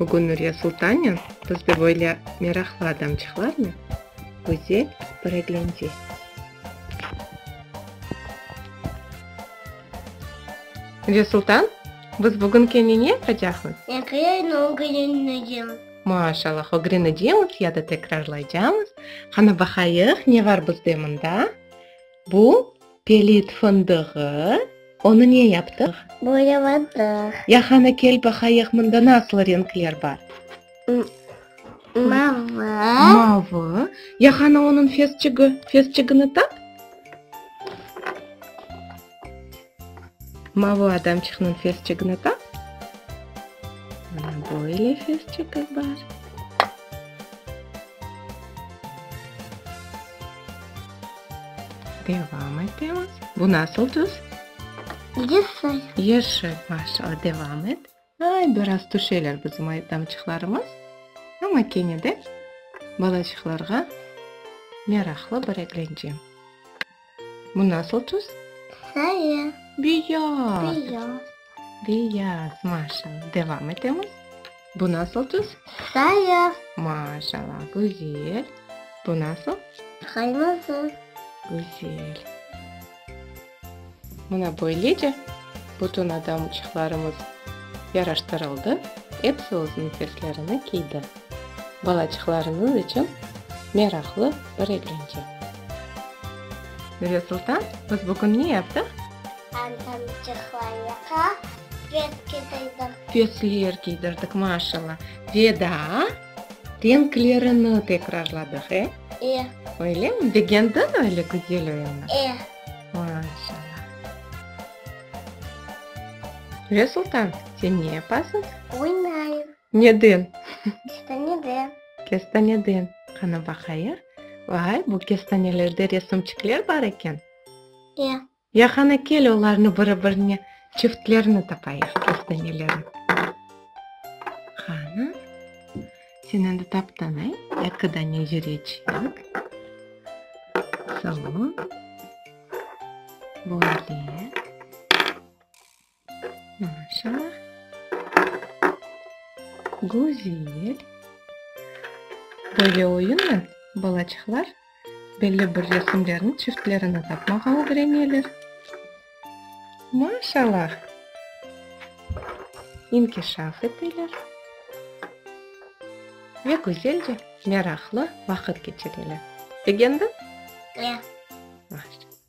Bugün Nuriye Sultanyan bizde böyle meraqlı adamçıqlarnen güzel böreglende. Nuriye Sultan, biz bugün kene ne yapacaqmız? Ekreni ögrenecem. Maşallah, ögrenecemiz ya da tekrarlaycamız. Qana, baqayıq, ne bar bizde mında? Bu, pelit fındığı, onı ne yaptıq? Boyaladıq. Ya qanı kel baqayıq, mında nasıl renkler bar? Mavı. Mavı. Ya qanı onıñ fesçigi, fesçigini tap. Mavo adamçıqnıñ fesçigini tap. Mana böyle fesçigi bar. Devam etemiz. Bu nasıl tüs? Yeşil. Yeşil, maşallah, devam et. Ay, biraz tüşeler bizim aydamçıqlarımız, amma kene de balacıqlarğa meraqlı bir eglence. Bu nasıl tüs? Sarı. Beyaz. Beyaz. Beyaz, maşallah. Devam etemiz. Bu nasıl tüs? Sarı. Maşallah, güzel. Bu nasıl? Qırmızı. Güzel. Mına böylece bütün adamçıqlarımız yaraştırıldı, epsi özüniñ seslerini kiydi. Balaçıqlarıñız içün meraqlı bir eglence. Nuresultan, biz bugün ne yaptıq? Adamçıqlarğa fes kiydirdik. Fesler kiydirdik, maşalla. Ve daa renklerini tekrarladıq, e? E. Öylemi? Begendiñ öyle güzel oyunı? E. Ve Sultan, sen ne yapasıñ? Oynayım. Neden? Kestaneden. Kestaneden. Qana baqayıq. Vay, bu kestanelerde resimçikler bar eken. Ya. Ya qana kel, olarnı biri-birine çiftlerini tapayıq, kestanelerni. Qana. Sen endi taptın, ey? Eki dane yüreçik. Salon. Böyle. Maşa. Güzel. Böyle oyunla balaçıqlar Belli bir resimlerniñ çiftlerini tapmağa ögreneler. Maşallah! İnkişaf eteler ve güzelce, meraqlı vaqıt keçireler. Begendin? Ya. Maşallah.